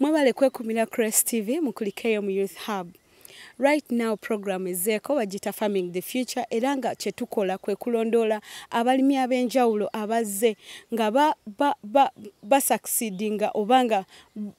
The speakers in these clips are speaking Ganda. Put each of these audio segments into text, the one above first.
mwebale kwekumira crest tv mukulikeyo mu youth hub right now program ezeeko bagita farming the future era nga kyetukola kwe kulondoola abalimi ab'enjawulo abazze nga basucceedi nga oba nga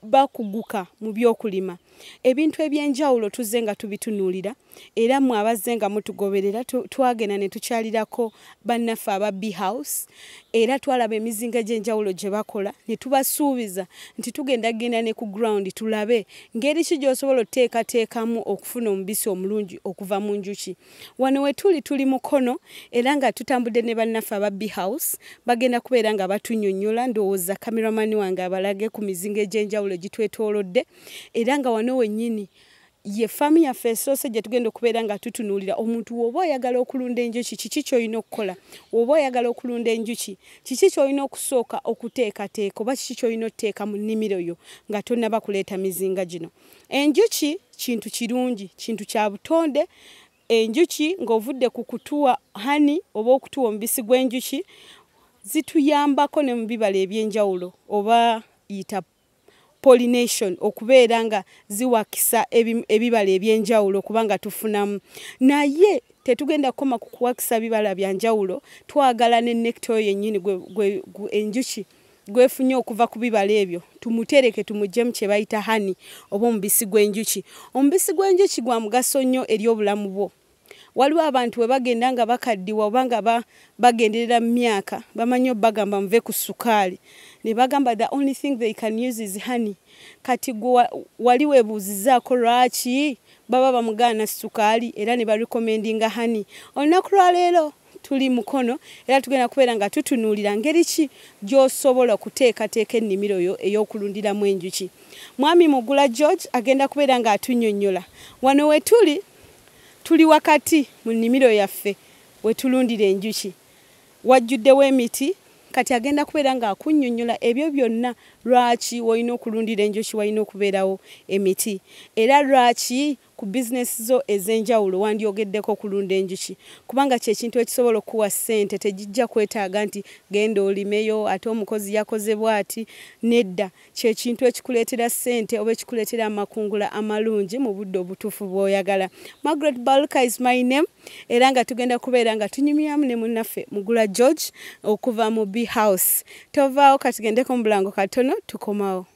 bakuguka mu by'okulima ebintu eby'enjawulo tuzze nga tubitunuulira era mwe abazze nga mutugoberera twagenda ne tukyalirako bannaffe aba b house era twalaba emizinga egy'enjawulo gye bakola ne tubasuubiza nti tugenda genda ne ku ground tulabe ngeri ki gy'osobola oteekateekamu okufuna omubisi omulungi okuva mu njuki wano we tuli tuli mukono era nga tutambudde ne bannaffe aba b house bagenda kubeera nga batunyonyola ndowooza kameramani wange abalage ku mizinga egy'enjawulo gitwetoolodde era nga wano wennyini ye faamu yaffe esoose gye tugenda okubeera nga tutunuulira omuntu woba oyagala okulunda enjuki kiki kyolina okukola woba oyagala okulunda enjuki kiki kyolina okusooka okuteekateeka oba kiki kyolina otuteeka mu nnimiro yo nga tonaba kuleeta mizinga gino enjuki kintu kirungi kintu kya butonde enjuki ng'ovudde ku kutuwa hani oba okutuwa omubisi gw'enjuki zituyambako ne mu bibala eby'enjawulo oba yitapu pollination okubeera nga ziwakisa ebibala ebyenjawulo kubanga tufunamu naye tetugenda kukoma ku kuwakisa bibala bya njawulo twagala ne nekita oyo yennyini enjuki gwefunye okuva ku bibala ebyo tumutereke tumujjemu kye bayita hani oba omubisi gw'enjuki omubisi gw'enjuki gwa mugaso nnyo eri obulamu bwo waliwo abantu bwe bagenda nga bakaddiwa oba nga bagenderera mu myaka bamanyi obagamba muve ku sukaali ne bagamba the only thing they can use is honey kati gwe wali webuuzizaako lwaki baba bamugaana sukaali era ne barecommendinga honey olunaku lwaleero tuli mukono era tugenda kubeera nga tutunuulira ngeri ki gy'osobola okuteekateeka ennimiro yo ey'okulundiramu enjuki mwami mugula george agenda kubeera ng'atunnyonnyola wano we tuli tuli wakati mu nnimiro yaffe we tulundira enjuki wajjuddewo emiti kati agenda kubeera ng'akunnyonnyola ebyo byonna lwaki walina okulundira enjuki walina okubeerawo emiti era lwaki Ku bizinesi zo ez'enjawulo wandyogeddeko kulunda enjuki kubanga kye kintu ekisobola okukuwa ssente. Tegijja kwetaaga nti genda olimeyo ate omukozi yakoze bw'ati. Nedda, kye kintu ekikuleetera ssente oba ekikuleetera amakungula amalungi mu budde obutuufu bw'oyagala. Margaret Baluka is my name era nga tugenda kubeera nga tunyumyamu ne munnaffe Mugula George okuva mu Bee House. Tovaawo, ka tugendeko mu bulango katono tukomawo.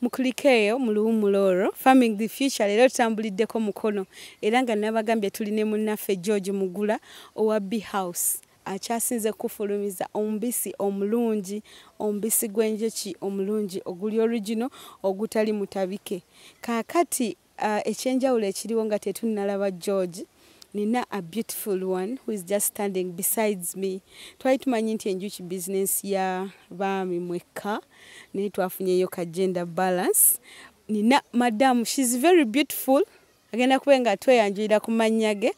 mukulikeeyo mu luwumula olwo farming the future leero tutambuliddeko mukono era nga nabagambye tuli ne munnaffe george mugula owa b house akyasinze kufulumiza omubisi omulungi omubisi gw'enjuki omulungi oguli origino ogutali mutabike kaakati Uh, ekyenjawulo ekiriwo nga tetunnalaba george nina a beautiful one who is just standing besides me twali tumanyi nti enjuki business ya baami mwekka naye twafunyeyo ka gender balance nina madam she's very beautiful agenda kube nga tweyanjulira ku mannya ge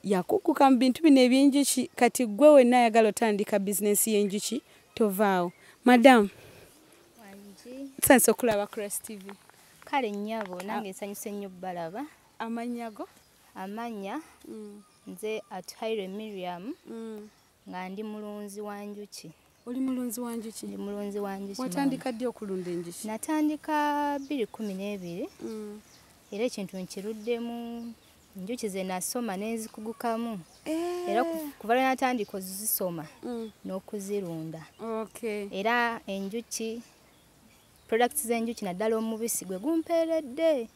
yakukuka mu bintu bino ebyenjuki kati gwe wenna ayagala otandika bizinensi y'enjuki tovaawo madamu sansi okulaba crest tv kale nnyabo nange ah. nsanyuse nnyo balaba amannya go amannya mm. nze atuhaire miriam mm. nga ndi mulunzi wa njuki oli mulunzi wa njuki ndi mulunzi wa njuki watandika ddi okulunda enjuki natandika bbiri kumi n'ebiri mm. era ekintu nkiruddemu njuki ze nasoma nezikugukamu eh. era kuva lwe natandika ozisoma mm. n'okuzirunda era enjuki products z'enjuki naddala omubisi gwe gumpeeredde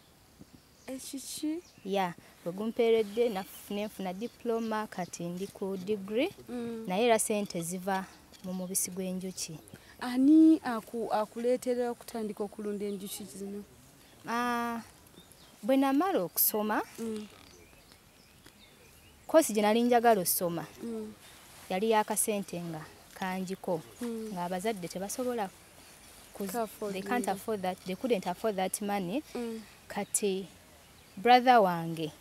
ekiki ya gwe gumpeeredde nenfuna diploma kati ndi ku degree mm. naye era sente ziva mu mubisi gw'enjuki ani akuleetera okutandika okulunda enjuki zino ah, bwe namala okusoma mm. kosi gye nali njagala osoma mm. yali yakasente nga kanjiko mm. ng'abazadde tebasobola money mm. kati brother wange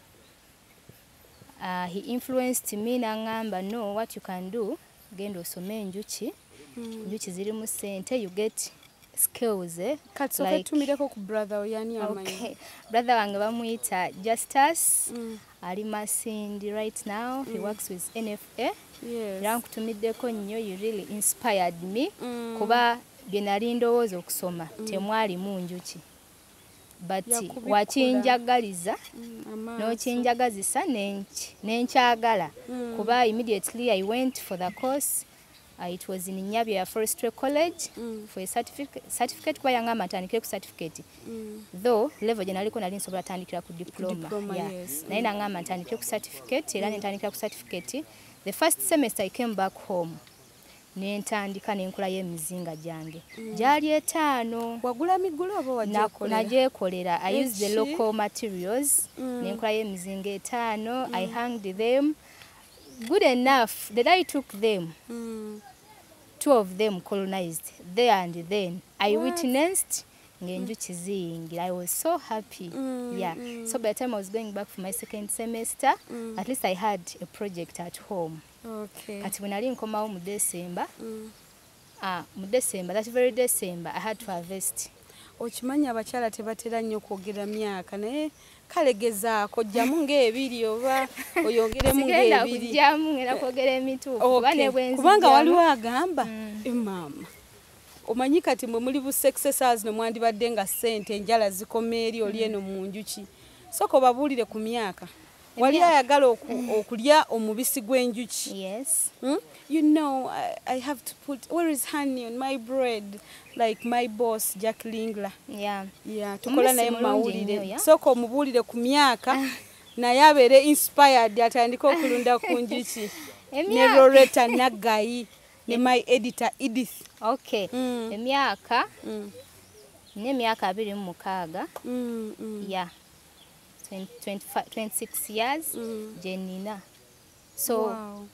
uh, he influenced me nangamba no what you can do genda osome enjuki hmm. enjuki ziri mu sente you get skills eh? katsoketumireko like, ku brother oyani amanyi okay. brother wange bamuyita justus mm. ali masindi right now mm. he hmm. works with nfa era yes. nkutumiddeko nnyo you really inspired me mm. kuba bye nali ndowooza okusoma mm. temwalimu njuki but wakinjagaliza mm, nokinjagazisa nenkyagala mm. kuba immediately i went for the course uh, it was in nyabia forestry college mm. for a certificate kuba yanga amatandikire ku certificate mm. though level gye naliko nali nsobola tandikira ku diploma, diploma yeah. yes. naye mm. nanga amantandikire ku certificate era mm. nentandikira ku certificate the first semester i came back home nentandika nenkula yo emizinga gyange mm. gyali etaano nagyekolera i use the local materials mm. nenkula yo emizinga etaano mm. i hanged them good enough the day took them mm. two of them colonized there and then i What? witnessed ngenjuki mm. ziyingira i was so happy mm, yeah mm. so by the time i was going back for my second semester mm. at least i had a project at home Okay. Kati when nali nkomawo mu December. Mm. Ah, mu December, that very December I had to harvest. Okimanyi abakyala tebatera nnyo kwogera myaka naye kale gezaako jjamu ng'ebiri oba oyongeremu ng'ebiri. Jjamu ngenda kwogera emituufu kuba ne bwenzi. Kubanga waliwo agamba mm. Eh, maama. Omanyi kati mwe muli bu successors no mwandibadde nga ssente enjala zikoma eri oli eno mu njuki. Soko babuulire ku myaka. wali ayagala okulya omubisi gw'enjuki yes hmm? you know I, i have to put where is honey on my bread like my boss jack lingla yeah. yeah, tukola naye mumawulire sooka omubuulire ku myaka ah. naye abeere inspired atandike okulunda ku njuki ne loreta naggayi ne my editor edith okay mm. emyaka mm. n'emyaka abiri mu mukaaga mm, mm. ya yeah. 26 years mm. jenina so wow.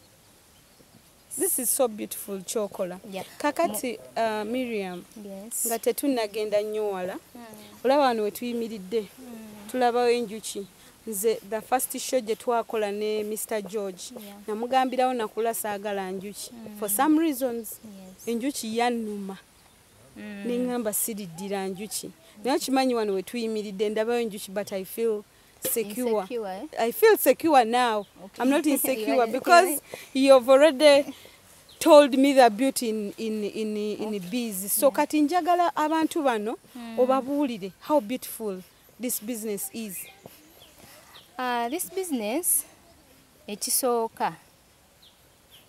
this is so beautiful kyokola yeah. kakati uh, miriam yes. nga tetunagenda nnyo wala mm. olaba wano wetuyimiridde mm. tulabawo enjuki nze the first show gye twakola ne mr george yeah. namugambirawo nakula saagala njuki mm. for some reasons yes. enjuki yannuma mm. nengamba siriddira njuki naye okimanyi wano wetuyimiridde ndabayo njuki but i feel secure insecure, eh? i feel secure now okay. i'm not insecure because you've already told me the beauty in, in, in, in okay. bees so mm. kati njagala abantu bano mm. obabuulire how beautiful this business is uh, this business ekisooka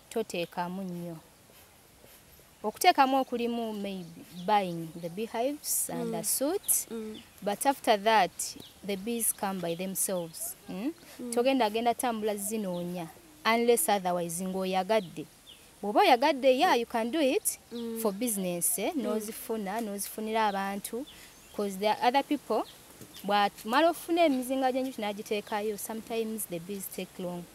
toteekamu nnyo okuteekamu okulimu maybe buying the beehives and mm. the suits mm. but after that the bees come by themselves mm? mm. togenda agenda tambula zinoonya unless otherwise ng'oyagadde bw'oba oyagadde ya you can do it mm. for business eh? mm. n'ozifuna n'ozifunira abantu bcause the other people bwamala ofuna emizinga gy'enjuki n'agiteekayo sometimes the bees take long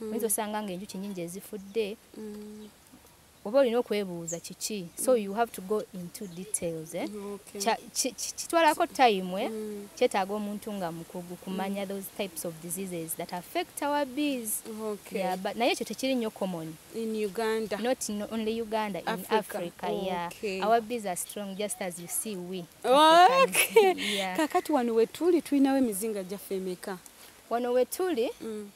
mm. oyinza osanga nga enjuki nyingi ezifudde mm. oba olina okwebuuza kiki so you have to go into details eh? kitwalako okay. time eh? mm. kyetaaga omuntu nga mukugu kumanya mm. those types of diseases that affect our bees okay. yeah, but naye ekyo tekiri nnyo common in uganda not in only uganda africa. in africa okay. yeah. our bees are strong just as you see we okay. yeah. kakati wano wetuli tulinawo emizinga gyaffe emeka wano wetuli mm.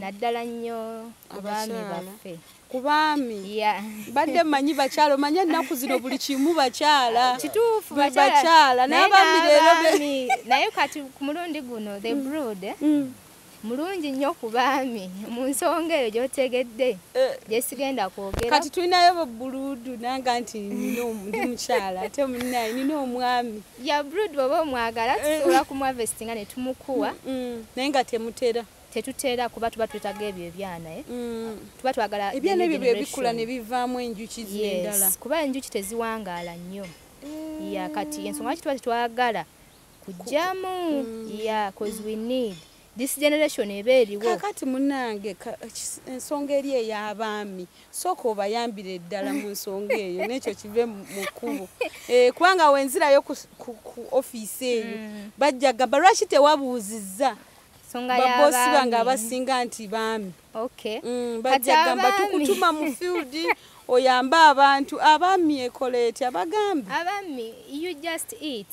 naddala nnyo abaami baffe ku baami badde manyi bakyala omanye ennaku zino buli kimu bakyala kituufu bakyala naye abaami leero naye kati ku mulundi guno the mm. brood eh? mm. mulungi nnyo ku baami mu nsonga eyo gyotegedde eh. gyesigenda kwogera kati tulinayo buluudu nanga nti ndi mukyala ate munaye nina omwami ya brood bwoba omwagala eh. tusobola kumwavestinga ne tumukuwa mm, mm. naye nga temutera tetutera kuba tuba twetaga ebyo ebyana eh? mm. tuba twagala ebyana ebyo bwebikula ne bivaamu enjuki zendala kuba enjuki teziwangaala nnyo eh. ya kati ensonga lwaki tuba tetwagala kujjamu ya cause we need this generation eba eriwo kakati munange ensonga eri ey'abaami sooka obayambire eddala mu nsonga eyo n'ekyo kive mu kkubo eh, kubanga wenzirayo ku ofiisi eyo mm. bajja gamba lwaki tewabuuzizza baboosi bange abasinga nti baami mm, bajja gamba tukutuma mu field oyambe abantu abaami ekola etya bagambe abaami you just eat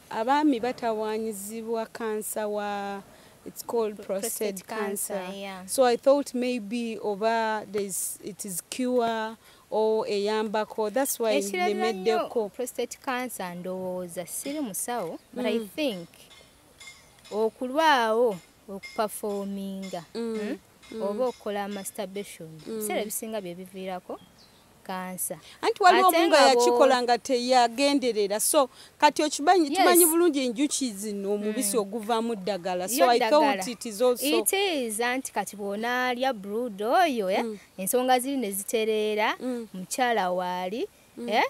Abaami batawaanyizibwa kansa wa it's called prostate, prostate cancer, cancer yeah. so i thought maybe oba there's it is cure or eyambako that's why nemeddeko prostate cancer ndowooza siri musawo but mm. i think okulwawo okuperforminga mm. hmm? mm. oba okukola masturbation mm. biseera mm. ebisinga byebiviirako kansa anti waliwo omu nga yakikola nga teyagenderera so kati okimanyi tumanyi bulungi enjuki zino hmm. omubisi oguvaamu ddagala so i thought it is also it is anti kati bwonaalya brood oyo eh, hmm. ensonga ziri ne zitereera hmm. mukyala waali eh,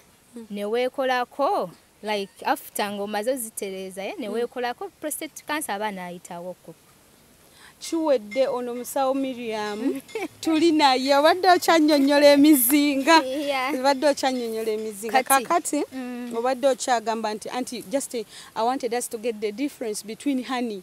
neweekolako like after nga omaze ozitereeza ye neweekolako mm. prostate cancer aba naayitawo ku kiwedde ono musawo miriam tuli naye obadde okyanyonyola emizinga obadde okyanyonyola emizinga kakati mm. obadde okyagamba nti anti just i wanted us to get the difference between honey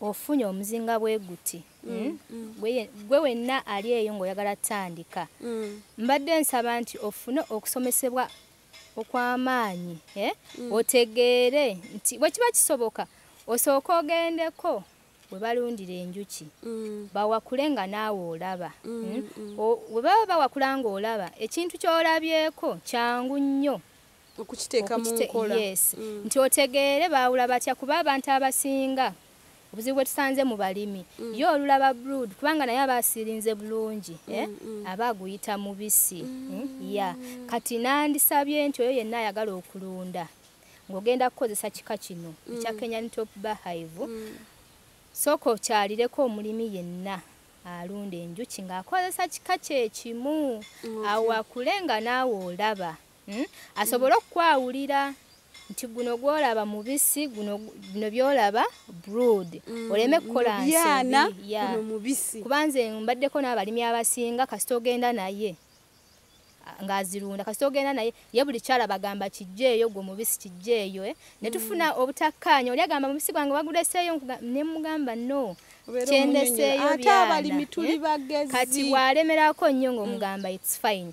ofunye omuzinga bwe guti mm, hmm? mm. gwe wenna ali eyo ng'oyagala tandika mm. mbadde nsaba nti ofune okusomesebwa okw'amaanyi eh? otegeere nti bwe kiba kisoboka osooka ogendeko we balundira enjuki bawakule nga naawe olaba hmm? we baba bawakula ng'olaba ekintu ky'olabyeko kyangu nnyo okukiteeka mu nkola yes mm. nti otegeere baawula batya kuba abantu abasinga obuzibu bwe tusanze mu balimi mm. ye olulaba brood kubanga naye aba asirinze bulungi mm, eh? mm. aba aguyita mubisi mm. eh? ya kati nandisabye nti oyo yenna ayagala okulunda ng'ogenda kukozesa kika kino mm. ekya mm. kenyan top bahive mm. sooka okyalireko omulimi yenna alunda enjuki ng'akozesa kika kyekimu okay. awo akule nga naawe olaba hmm? asobole okukwawulira nti guno gwolaba mubisi guno bino byolaba brood mm, oleme kukola nsobi kubanze mbaddeko n'abalimi abasinga kasita ogenda naye ng'azirunda kasita ogenda naye ye buli kyala bagamba kijjeeyo gwe omubisi kijjeeyo eh? ne tufuna mm. obutakkaanya oli agamba mubisi gwange baguleseeyo ne mugamba no kyendeseeyo byana eh? kati bw'alemerako nnyo ng'omugamba mm. its fine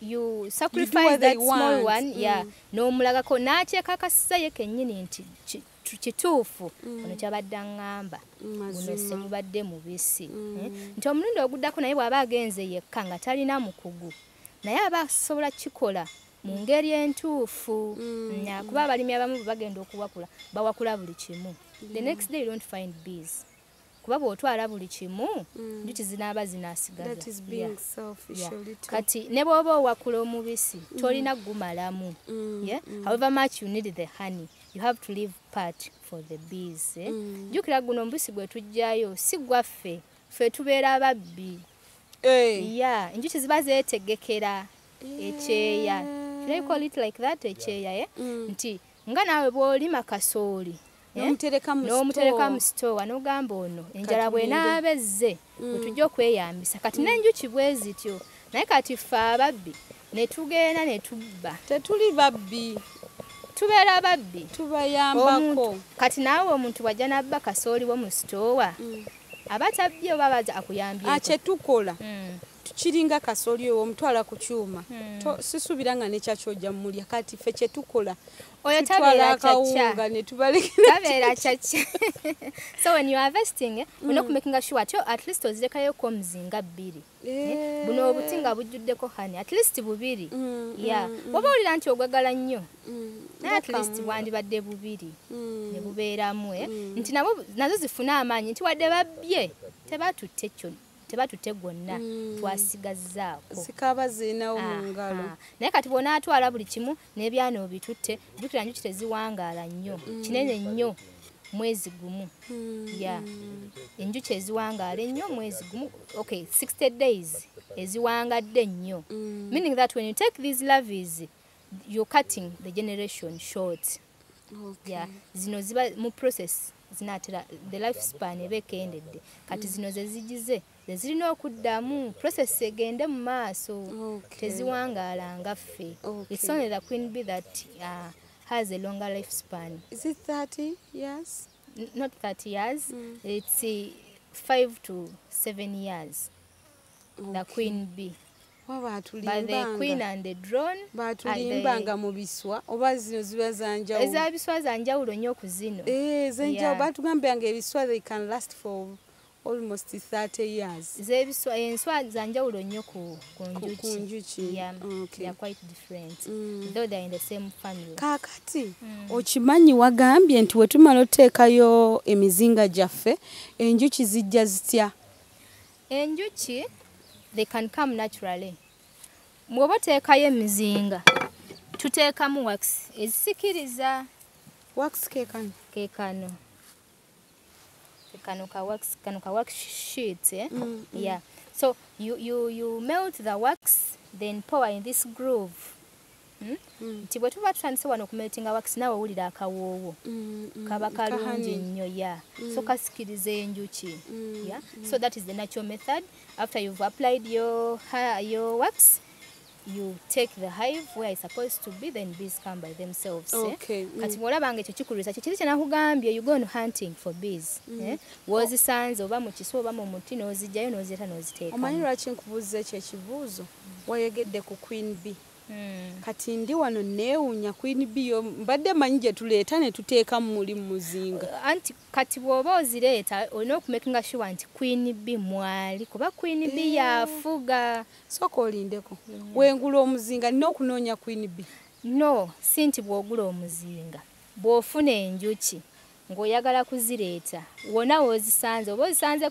you sacrifice that small one mm. yeah n'omulagako n'akyekakasiza ye kennyini nti kituufu mm. ono kyabadde aŋŋamba guno semubadde mubisi mm. eh? nti omulundi oguddako naye bw'aba agenze yekka nga talina mukugu naye aba asobola kukikola mu mm. ngeri entuufu kuba abalimi abamu bwe bagenda okuwakula bawakula buli kimu the next day you don't find bees kuba bwotwala buli kimu mm. njuki zinaaba zinasigazakati ne bwoba owakula omubisi mm. tolina gumalamu mm. however much you need the honey you have to leave part for the bees eh? jukira guno omubisi gwe tujjayo si gwaffe fe tubeera ababbi eh. ya enjuki ziba zeetegekera ekyeya ekyeya eh. nti nga naawe bw'olima kasooli eh, n'omutereka mu sitoowa n'ogamba ono enjala bwenaaba ezze mm. wetujja okweyambisa kati mm. n'enjuki bwe zityo naye kati ffe ababbi ne tugenda ne tubba tetuli babbi tubeera babbi tubayambako kati naawe omuntu wajja nabba kasooli wo mu sitoowa mm. aba tabbye oba baza akuyambye ah, kyetukola tukiringa kasoli owo omutwala ku kyuma hmm. sisuubira nga nekyaki ojja mumulya kati fe kyetukola oyo tabeera akawunga netubalekerabeera kyakya so when you are vesting eh, mm. unokumakinga sure atyo at least ozirekayo komuzinga bbiri eh, eh. buno obuti nga bujjuddeko hani at least bubiri mm, mm, ya mm, oba owulira nti ogwagala nnyo mm, naye at least bwandibadde bubiri mm, nebubeeramu eh? mm. nti nabo nazo zifune amaanyi nti wadde babbye tebatutte kyonna tebatutte gwonna mm. twasigazzaako zikaaba zirinawo mu ngalo naye kati bwonaatwala buli kimu n'ebyana obitutte jukira njuki teziwangaala nnyo mm. kinene nnyo mwezi gumu mm. ya enjuki eziwangaala ennyo mwezi gumu ok 60 days eziwangadde nnyo mm. meaning that when you take these loves you're cutting the generation short okay. yeah. zino ziba mu process zinatera the life span eba ekendedde kati zino zezigize zezirina okuddamu process egende mu maaso teziwangaala nga ffe its only the queen be that uh, has a longer life span is it 30 years not 30 years mm. it's uh, five to seven years okay. the queen b batulimbanga mu biswa oba zino ziba zanjawulo eza biswa zanjawulo nnyo ku zino eh, zenjawulo batugambiranga ebiswa they can last for almost 30 years zebiswa enswa eh, zanjawulo nnyo ku njuki kakati mm. okimanyi wagambye nti wetumala oteekayo emizinga gyaffe enjuki zijja zitya enjuki they can come naturally mwoba oteekayo emizinga tuteekamu wax ezisikiriza wax kekano kekano kano ka wax kano ka wax sheet eh? mm, mm. yeah so you, you, you melt the wax then pour in this groove Hmm? Hmm. nti bwe tuba tutandise wano okumetinga wakisi naawe wulira akawoowo hmm, kaba kalungi nnyo ya so kasikiriza enjuki ya so that is the natural method after you've applied your, your wax you take the hive where it's supposed to be then bees come by themselves eh? okay. eh? mm. kati bwolabanga ekyo kikulwisa kyekiri kyenakugambye you go on hunting for bees mm. eh? wozisanze oba mukiswa oba mu muti nozijjayo nozireta noziteeka omanyi lwaki nkubuuza ekyo ekibuuzo wayogedde ku queen bee Hmm. kati ndi wano neewunya queen bio mbadde manyi gye tuleeta ne tuteeka muli mu muzinga uh, anti kati bw'oba ozireeta olina okumekinga shuwa nti queen b mwali kuba queen b eh. yafuga sooka olindeko hmm. wengula omuzinga nina okunoonya queen b no si nti bw'ogula omuzinga bw'ofuna enjuki ng'oyagala kuzireeta wona woozisanze oba ozisanze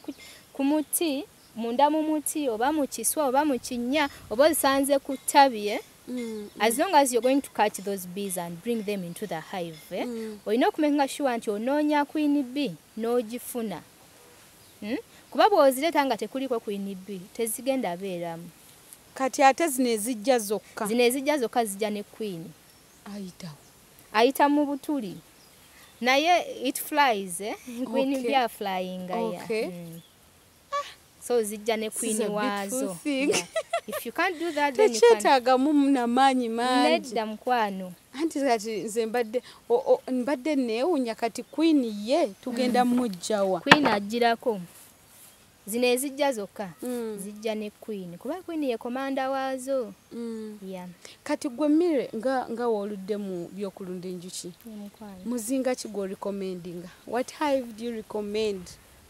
ku muti munda mu muti oba mu kiswa oba mu kinnya oba ozisanze ku ttabi eh? Mm, mm. as long as you're going to catch those bees and bring them into the hive eh? mm. olina okumakinga sure nti onoonya queen b n'ogifuna hmm? kuba bw'ozireeta nga tekuliko queen b tezigenda beeramu kati ate zino ezijja zokka zino ezijja zokka zijja ne queen ayitawo ayita mu butuli naye it flies eh? queen okay. b aflyinga okay. yeah. mm. ah, so zijja ne kwini waazo tekyetaagamu namaanyi manginedda mukwano anti kati nze mbadde mbadde neewunya kati kwini ye tugenda mm. mujjawa kwini ajjirako zino ezijja zokka mm. zijja ne queen kuba queen ye komanda waazo mm. yeah. kati gwe mire nga, nga woludde mu byokulunda enjuki muzinga ki gwe recommendinga what hive do you recommend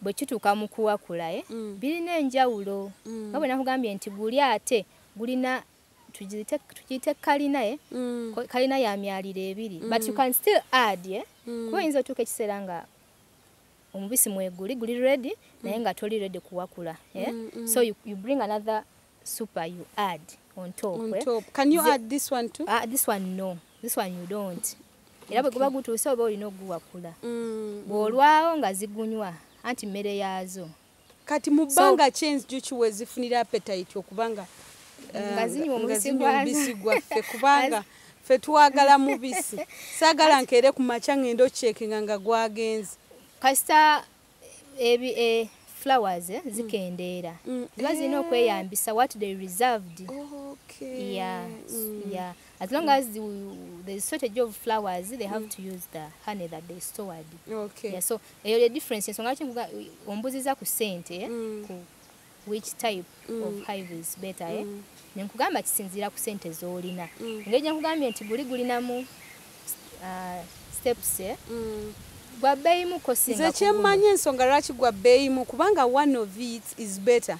bwe kituuka mu kuwakula eh, mm. birina enjawulo mm. nga bwe nakugambye nti guli ate gulina tugiyite kalina e mm. kalina ya myaliro ebiri mm. but you mm. can still add e eh? mm. kuba oyinza otuuka ekiseera nga omubisi mweguli guli redi mm. naye nga toli redi kuwakula eh? mm, mm. so you, you bring another super you add on top, on eh? top. Eh? can you the, add this one too uh, this one no this one you don't era bwe guba gutuuse oba olina okuguwakula mm. bw'olwawo nga zigunywa anti mmere yaazo kati mu bbanga ki enjuki wezifunira apetite okubanga nga eh, zinywa omubisi gwaffe kubanga fe twagala mubisi saagala nkeere ku makya ng'enda okyekinga nga gwagenze kasita ebi e flowers eh, mm. zikendeera mm. mm. ziba zirina eh. okweyambisa what they reserved okay. yeah, mm. yeah. as long mm. as the, the shortage of flowers they have mm. to use the honey that they stored okay. yeah, so eyo eh, the difference ensonga lwaki ombuziza ku sente eh, mm. ku which type mm. of hive is better eh? mm. eh? nenkugamba kisinziira ku sente zolina mm. engeri gyenkugambye nti guli gulinamu uh, steps eh? mm. gwa bbeeyimu kosinze kyemmanyi ensonga lwaki gwa bbeeyimu kubanga one of it is better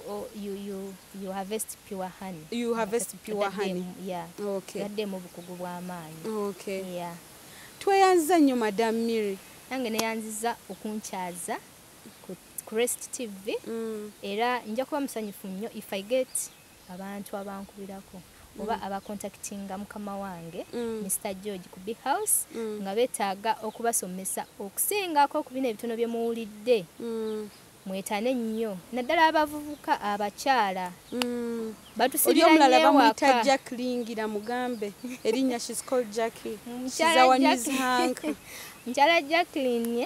Oh, you you you harvest pure honey you harvest pure honey yeah okay yadde mu bukugu bwa maanyi okay yeah tweyanza nyo madam miri nange neyanziza okunkyaza ku crest tv mm. era nja kuba musanyufu nnyo if i get abantu abankubirako oba mm. abakontaktinga mukama wange mm. mr george ku big house mm. nga betaaga okubasomesa okusingako ku bino ebitono bye muwulidde mm. mwetane nnyo naddala abavubuka abakyala mm. batusiriomulala bamuyita jack lingira mugambe erinnya shes called jacki she's our news hank mukyala jacklin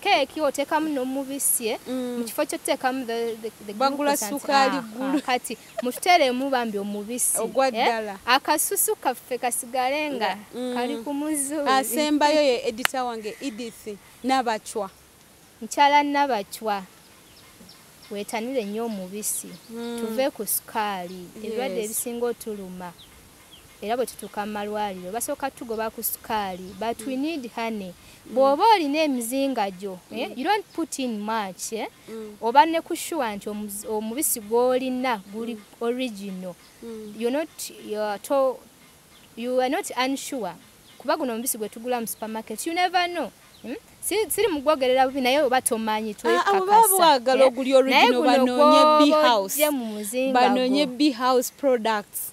Keeki oteekamu n'omubisi eh? mm. mu kifo ky'oteekamu bagula sukaali ah, ggulu ah, kati mututeeremu bambi omubisi ogwa eh? ddala akasusu kaffe kasigale nga mm. kali ku muzuuli asembayo ye edita wange edith nabacwa mukyala nabacwa wetanire nnyo omubisi mm. tuve ku sukaali ebirwadde ebisinga otuluma era bwe tutuuka mu malwaliro basooka tugoba ku sukaali but we need honey mm. bw'oba olina emizinga gyo eh, mm. you don't put in much eh? mm. oba ne ku sure nti omubisi gw'olina guli original you not to you are not unsure kuba guno omubisi gwe tugula mu supermarket you never know hmm? siri mugwogerera bubi naye oba tomanyi twekakasanaye ah, ah, guno gwobanoonye b house products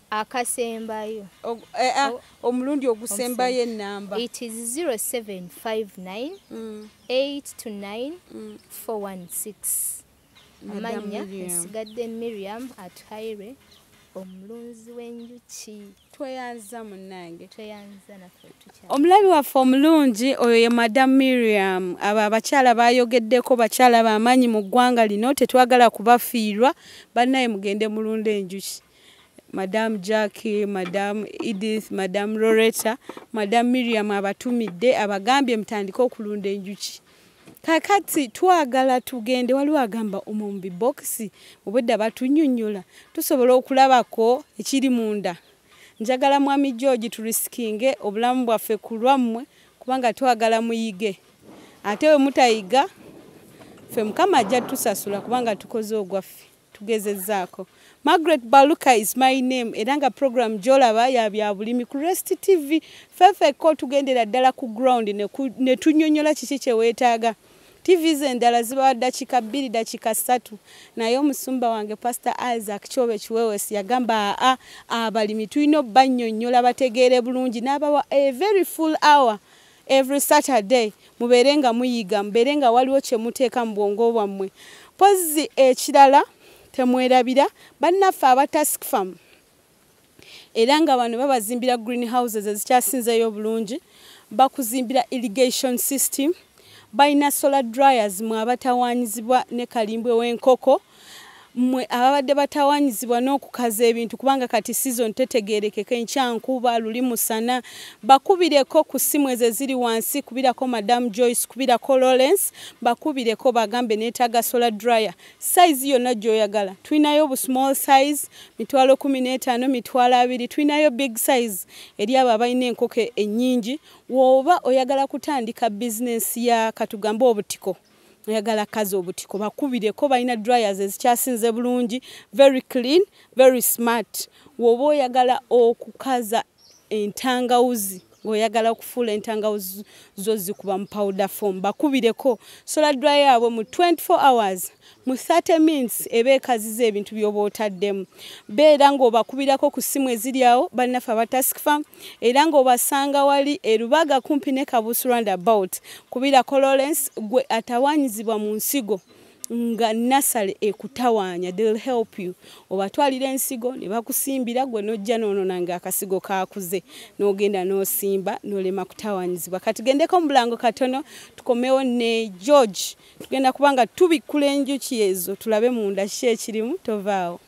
akasembayo eh, ah, omulundi ogusembayo enamba it is 0759 829 416 amanya nsigadde miriam atuhaire omulunzi w'enjuki tweyanza munange tweyanza naffe tukya omulabi waffe omulungi oyo ye madam miriam abo abakyala bayogeddeko bakyala bamaanyi mu ggwanga lino tetwagala kubafiirwa bannaye mugende mulunda enjuki madam jacki madam edith madam loretta madam miriam abatumidde abagambye mutandike okulunda enjuki kakati twagala tugende waliwo agamba omumbi bokisi obwedda batunyonyola tusobola okulabako ekiri munda njagala mwami george turisikinge obulamu bwaffe ku lwammwe kubanga twagala muyige ate we mutayiga ffe mukama ajja tusasula kubanga tukoze ogwaffe tugezezzaako margaret baluka is my name era nga program gyolaba ya bya bulimi ku rest tv fefeko tugendera ddala ku ground ne tunyonyola kiki kyeweetaaga tv ze endala zibawa dakika bbiri dakika ssatu naye omusumba wange pastor isaac kyobe kiwewes yagamba aa abalimi tulina obanyonyola bategeere bulungi n'abawa a very full hour Every Saturday mubeere nga muyiga mubeere nga waliwo kye muteeka mu bwongo bwammwe mpozzi ekirala temwerabira bannaffe aba task farm era nga bano babazimbira green houses ezikyasinzeeyo obulungi bakuzimbira irrigation system balina solar dryers mwe abatawaanyizibwa ne kalimbwe w'enkoko mwe ababadde batawanyizibwa n'okukaza ebintu kubanga kati sizoni tetegeerekeka enkyankuba luli musana bakubireko ku ssimu ezo eziri wansi kubirako madamu joyce kubirako lawrence bakubireko bagambe neetaaga solar dryer sayizi yonna gy'oyagala tulinayo bu small size mitwalo kumi n'etaano mitwalo abiri tulinayo big size eri abo abalina enkoko ennyingi wooba oyagala kutandika bizinensi ya katugambe obutiko oyagala kazi obutiko bakubireko balina dryers ezikyasinze bulungi very clean very smart woba oyagala okukaza entangawuzi ngaoyagala okufuula entangawuzi zo zikuba mu powder form bakubireko sola dry yaabwe mu 24 hours mu 30 minutes eba ekaziza ebintu byoba otaddemu beera ngaobakubirako ku ssimu eziryawo balinafe aba task farm era ng'obasanga wali e Lubaga kumpi ne Kabuusu Roundabout. Kubirako Lawrence gwe atawaanyizibwa mu nsigo nga nasale ekutawaanya they'll help you obatwalira ensigo ne bakusimbira gwe n'ojja n'onona ng'akasigo kaakuze n'ogenda n'osimba n'olema kutawaanyizibwa kati gendeko mu bulango katono tukomewo ne george tugenda kuba nga tubikkula enjuki ezo tulabe munda ki ekirimu tovaawo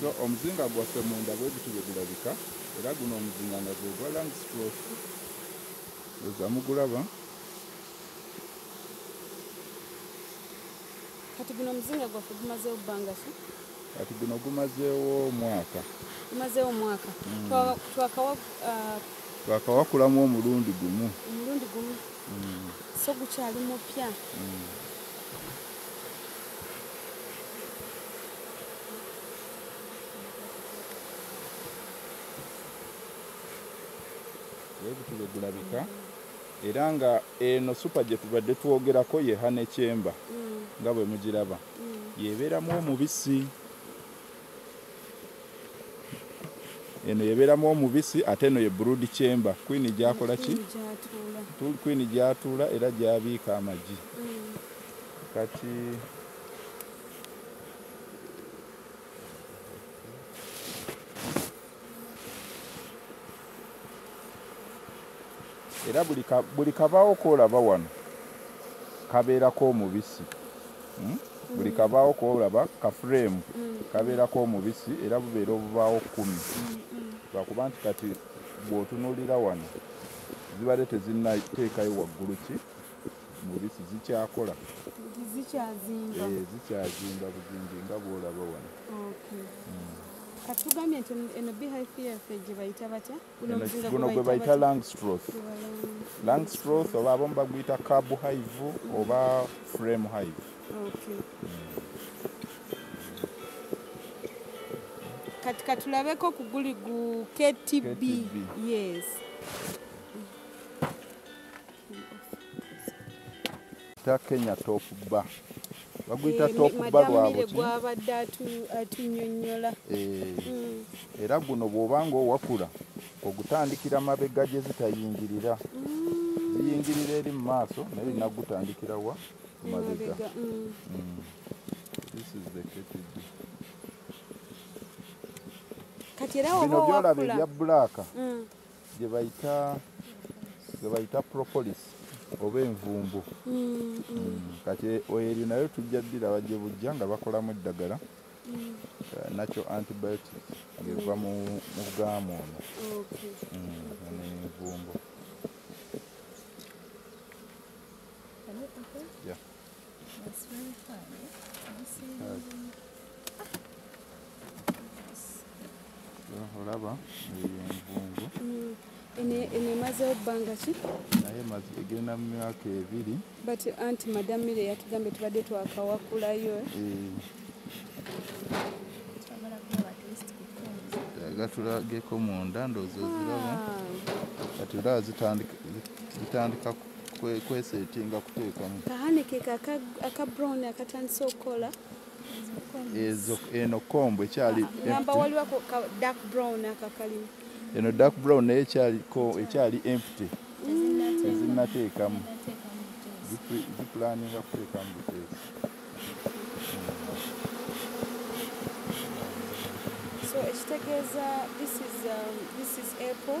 so omuzinga gwaffe munda bwe guti bwe gulabika era guno omuzinga nga gwe gwa langstroth eza mugulaba kati guno omuzinga gwaffe gumazeewo bbanga ki kati guno gumazeewo omwaka gumazeewo omwaka mm. twakawakulamu uh, omulundi gumu omulundi gumu mm. so gukyali mupya mm. ebitube gulabika era nga eno supa gye tubadde twogerako yeha nekyemba mm. nga bwe mugiraba mm. yebeeramu omubisi eno yebeeramu omubisi ate eno ye brood chamber kwini gyakola ki kwini gyatuula era gyabiika amagi kati era buli kabaawo kolaba wano kabeerako omubisi hmm? buli kabaawo kolaba kafureemu kabeerako omubisi era bubeera obubaawo kumi lwakuba nti kati bwotunulira wano zibadde tezinnateekayo waggulu ki mubisi zikyakola zikyazimba eh, buzingi nga bwolaba wano hmm. katugambye nti eno beehive yaffe gye bayita batya guno gwe bayita langstroth langstroth oba abamu baguyita cab hive oba frame hive kati katulabeko kuguli gu ktb yes Ta Kenya top bar. Baguyita eh, top bar lwabo ki? Gwabadde atunyonnyola. Eh. Mm. Era guno bw'obanga owakula ogutandikira mabega gye zitayingirira. Mm. Ziyingirira eri mu maaso naye olina kugutandikira wa? Mabega. Mm. Mm. This is the KTB. Kati era oba owakula. Bino byolaba ebya bbulaaka. Mm. gyebayita gyebayita propolis oba envumbu mm, mm. mm, kati oyo eri nayo tujja ddira bajje bujja nga bakolamu eddagala eh, nakyo antibiotic ngeva mu gaamu ono envumbu olaba envungu eno emazewo bbanga ki naye egenda mu myaka ebiri but anti madam mire yatugambye tubadde twakawakulayo eh. gatulageko munda ndoozi oziraba ah. kati olaba zitandika kwesetinga kuteekamu kahanikika aka brown akatandise okukola eno kombo ekyali eno dark brown naye ekyali empty ezinateekamu zipulaninga kuteekamu buteeka So ekitegeeza this is, um, this is apple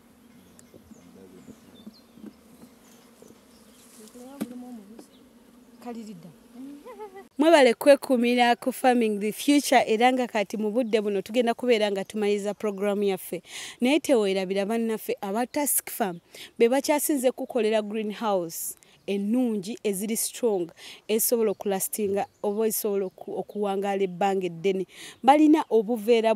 kalirida mwebale kwekumira ku farming the future era nga kati mu budde buno tugenda kubeera nga tumaliriza puroguramu yaffe naye teweerabira bannaffe aba task farm be bakyasinze kukolera green house ennungi eziri strong ezisobola okulastinga oba ezisobola okuwangaala ebbanga eddene balina obuveera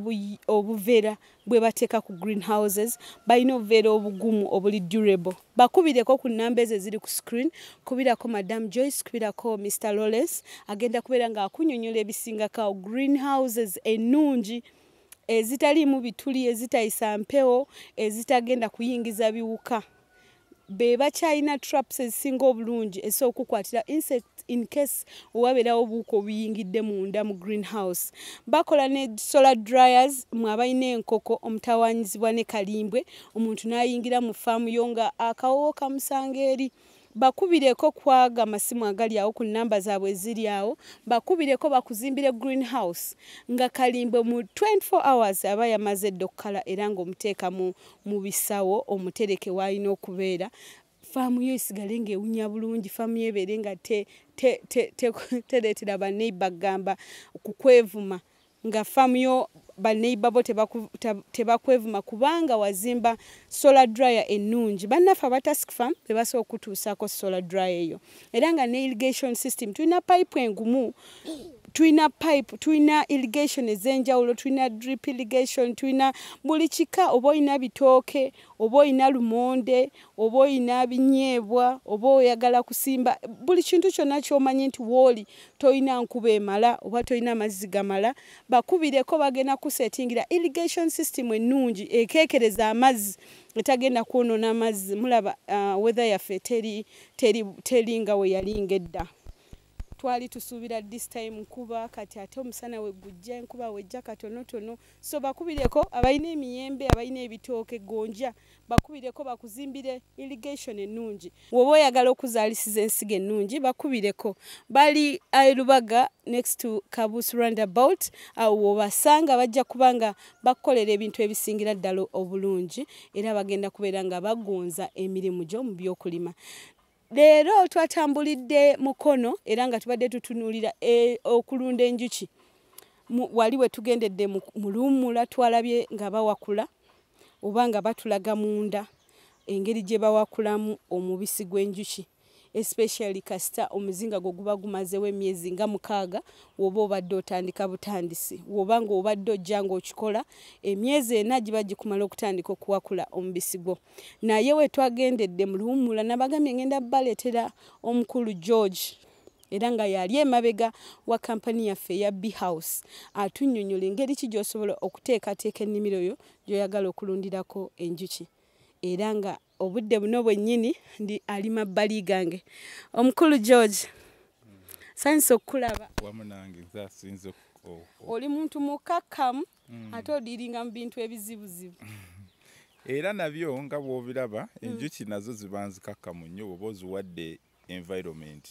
obuveera bwebateeka ku green houses balina obuveera obugumu obuli durable bakubireko ku namba ezo eziri ku screen kubirako madam joyce kubirako mr lawrence agenda kubeera ngaakunyonyola ebisingakao green houses ennungi ezitaliimu bituli ezitayisa mpewo ezitagenda kuyingiza biwuka be bakyalina traps ezisinga obulungi ezisobola okukwatira insect in case wabeerawo obuuka obuyingidde munda mu greenhouse bakola ne solar dryers mwe abalina enkoko omutawanyizibwa ne kalimbwe omuntu n'ayingira mu faamu yo nga akawowo kamusanga eri bakubireko kwaga masimu agali awo ku namba zaabwe eziri awo bakubireko bakuzimbire greenhouse nga kalimbwe mu 24 hours aba yamaze edda okukala era ng'omuteekamu mu bisawo omutereke waalina okubeera faamu yo esigale ng'ewunya bulungi faamu yo ebeere nga tereetera baneiba kugamba kukwevuma nga faamu yo baneiba bo tebakwevuma kubanga wazimba solar dryer ennungi bannaffe abatask fam bebasobola okutuusaako solar dryer eyo era nga ne irrigation system tulina pipe engumu tulina pipe tulina irrigation ez'enjawulo tulina drip irrigation tulina buli kika oba olina bitooke oba olina lumonde oba olina binyeebwa oba oyagala kusimba buli kintu kyonna kyomanyi nti wooli tolina nkuba emala oba tolina amazzi gamala bakubireko bagenda kusetingira irrigation system ennungi ekekereza amazzi etagenda kwonoona amazzi mulaba uh, weather yaffe teri teri teri nga we yali ngedda twali tusuubira this time nkuba kati ate omusana we gujja enkuba wejja katonotono so bakubireko abalina emiyembe abalina ebitooke gonja bakubireko bakuzimbire irrigation ennungi woba oyagala okuzaalisiza ensiga ennungi bakubireko bali aerubaga next to kabus roundabout awo wobasanga bajja kubanga bakukolera ebintu ebisingira ddala obulungi era bagenda kubeera nga bagunza emirimu gyo mu byokulima leero twatambulidde mukono era nga tubadde tutunuulira e, okulunda enjuki wali we tugendedde mu luwummula twalabye nga bawakula oba nga batulaga munda engeri gye bawakulamu omubisi gw'enjuki especially kasita omuzinga gwo guba gumazewo emyezi nga mukaaga woba obadde otandika butandisi woba nga obadde ojja ngaokikola emyezi ena giba gikumala okutandika okuwakula omubisi gwo naye wetwagendedde muluwumula nabagambye ngenda baleetera omukulu george era nga yali emabega wa kampani yaffe eya bhouse atunyonyola engeri ki gyosobola okuteekateeka ennimiro yo gyoyagala okulundirako enjuki era nga obudde buno bwennyini ndi ali mabbali gange omukulu george sanyusa okukulaba oli muntu mukakkamu mm. ate odiiringa mu bintu ebizibuzibu era nabyo nga bwobiraba mm. enjuki nazo ziba nzikakkamu nnyo oba oziwadde environment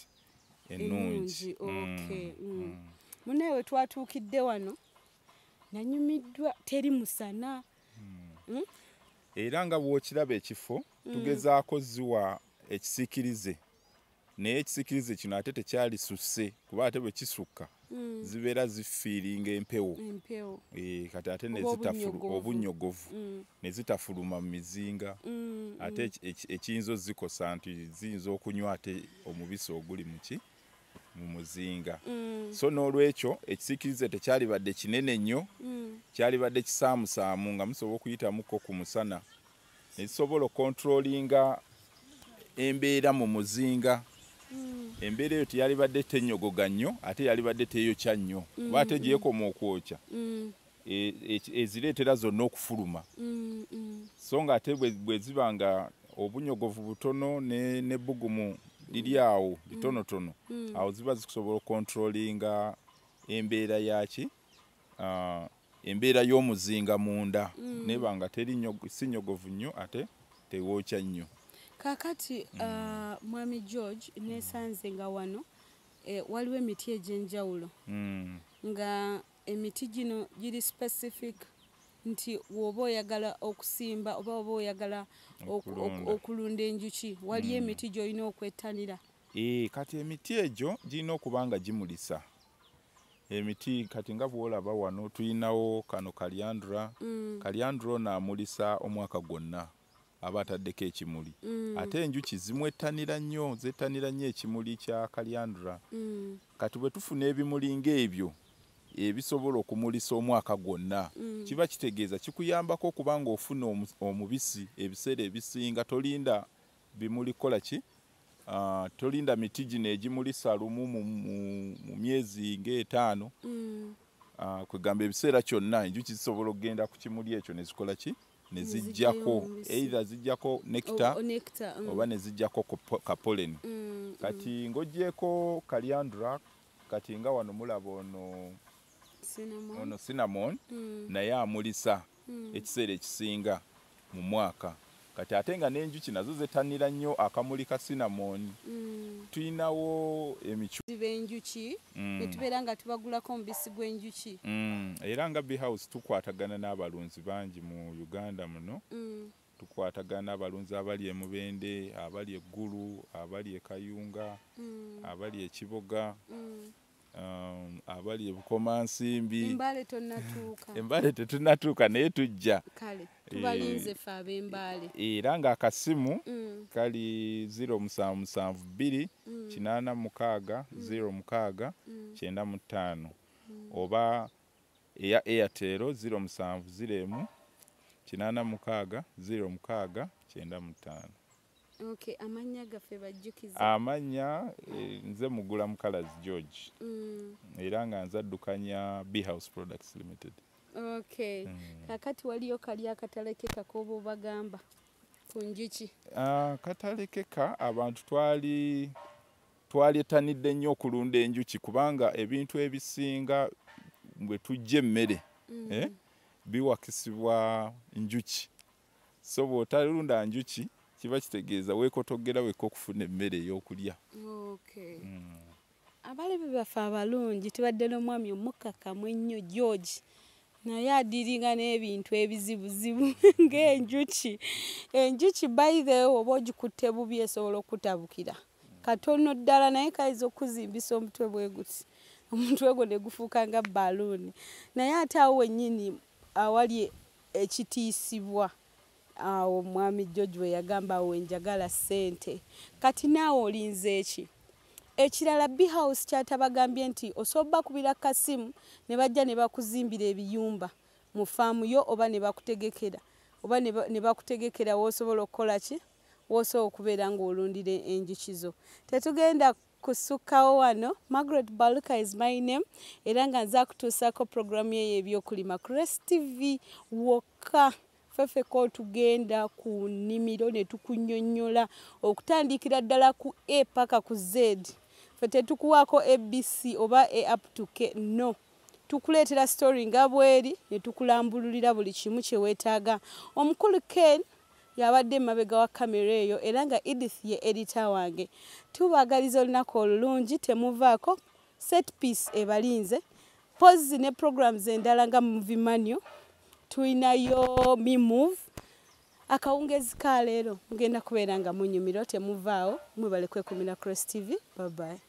ennungi munaye wetwatuukidde wano nanyumiddwa teri musana hmm. era nga bwokiraba ekifo hmm. tugezaako ziwa ekisikirize naye ekisikirize kino ate tekyalisusse kuba ate bwe kisukka hmm. zibeera zifiiringa empewo eh, kati ate obunyogovu ne zitafuluma mu mizinga ate ekiyinza ozikosa nti ziyinza okunywa ate omubisi oguli muki mu muzinga mm. so n'olwekyo ekisiikirize tekyalibadde kinene nnyo mm. kyalibadde kisaamusaamu nga musobola okuyitamuko ku musana nekisobola okontrolinga embeera mu muzinga mm. embeera eyo teyalibadde tenyogoga nnyo ate yalibadde teyokya nnyo kuba ate gyekoma okwokya e, e, ezireetera zonna okufuluma mm, mm. so nga ate bwe ziba nga obunyogovu butono n'ebbugumu liri awo litonotono mm, awo ziba zisobola okontrolinga embeera yaki ah, embeera y'omuzinga munda neba nga teri si nyogovu nnyo ate tewookya nnyo kakati ah, mwami george nesanze nga wano eh, waliwo emiti egyenjawulo nga Emiti gino giri specific nti woba oyagala okusimba oba oba oyagala okulunda enjuki waliyo hmm. emiti gyolina okwettanira? Ee, kati emiti egyo girina okuba nga gimulisa emiti kati nga bwolaba wano tulinawo kano kalyandra mm. kalyandra ono amulisa omwaka gwonna aba ataddeko ekimuli mm. ate enjuki zimwettanira nnyo zettanira nnyo ekimuli kya kalyandra mm. kati bwe tufuna ebimuli ng'ebyo ebisobola okumulisa omwaka gwonna mm. kiba kitegeeza kikuyambako okuba ng'ofuna omubisi ebiseera ebisinga tolinda bimuli kukola ki ah, tolinda miti gino egimulisa lumu mu myezi ng'etaano ah, kwegamba ebiseera kyonna enjuki zisobola okugenda ku kimuli ekyo nezikola ki ne zijjako either zijjako nekita oh, oh, mm. oba ne zijjako kapoleni mm, mm. kati ng'ogyeko kaliandra kati nga wano mulaba ono ono cinnamon mm. naye amulisa mm. ekiseera ekisinga mu mwaka kati ate nga n'enjuki nazo zetanira nnyo akamuli ka cinnamon mm. tulinawo emicubenjuki mm. netubeera nga tubagulako omubisi gw'enjuki mm. era nga behouse tukwatagana n'abalunzi abalunzi bangi mu Uganda muno mm. tukwatagana abalunzi abali e Mubende, abali e Ggulu, abali e Kayunga, mm. abali e Kiboga mm. um, abali e Bukomansimbi. Embale tonnatuuka. Embale tetunnatuuka naye tujja. Kale tubalinze ffe ab'Embale. Eh, era ng'akasimu mm. kali ziro musanvu musanvu bbiri mm. kinaana mukaaga mm. ziro mukaaga mm. kyenda mu ttaano mm. oba eya Airtel 0701 kinaana mukaaga ziro mukaaga kyenda mu ttaano Okay, amannya gaffe bajjukiza amannya eh, nze mugula mukalazi george mm. era nga nze addukanya bhouse products limited okay mm. kakati waliyo kali akatalekeka koba obagamba ku njuki uh, ah, katalekeka abantu twali Twaletanidde nnyo okulunda enjuki kubanga ebintu ebisinga bwe tujja emmere mm. eh, biwakisibwa njuki. So bw'otalunda njuki kiba kitegeeza weekotogera wekka okufuna emmere ey'okulya. Okay. Mm. Abalabi baffe abalungi tubadde n'omwami omukkakkamu ennyo George. naye adiringa n'ebintu ebizibuzibu ng'enjuki enjuki bayirewo oba ogikutte bubi esobola okutabukira katono ddala naye kayinza okukuzimbisa omutwe bwe guti omutwe gwo ne gufuuka nga baluuni naye ate awo wennyini awali ekitiisibwa awo omwami george we yagamba awo enjagala ssente kati naawe olinze eki ekirala behouse kyatabagambye nti osobola bakubira kasimu ne bajja ne bakuzimbira ebiyumba mu faamu yo oba ne bakutegekera oba ne bakutegekera woosobola okukola ki woosa okubeera ng'olundira enjuki zo tetugenda kusukkawo wano margaret baluka is my name era nga nza kutuusaako puroguramu eyo ebyokulima cres tv wokka fefeka otugenda ku nnimiro ne tukunyonyola okutandikira ddala ku a paka ku z fe tetukuwaako abc oba a up to k no tukuleetera story nga bweri ne tukulambululira buli kimu kye weetaaga omukulu ken y'abadde emabega wa kkamera eyo era nga Edith ye edita wange. Tubaagaliza olunaku olulungi, temuvaako, set piece ebalinze. Pozzi ne programs endala nga movie manual, tulinayo me move. Akawungeezi ka leero mugenda kubeera nga munyumirwa, temuvaawo, mwebale kwekumira Cross TV. Bye bye.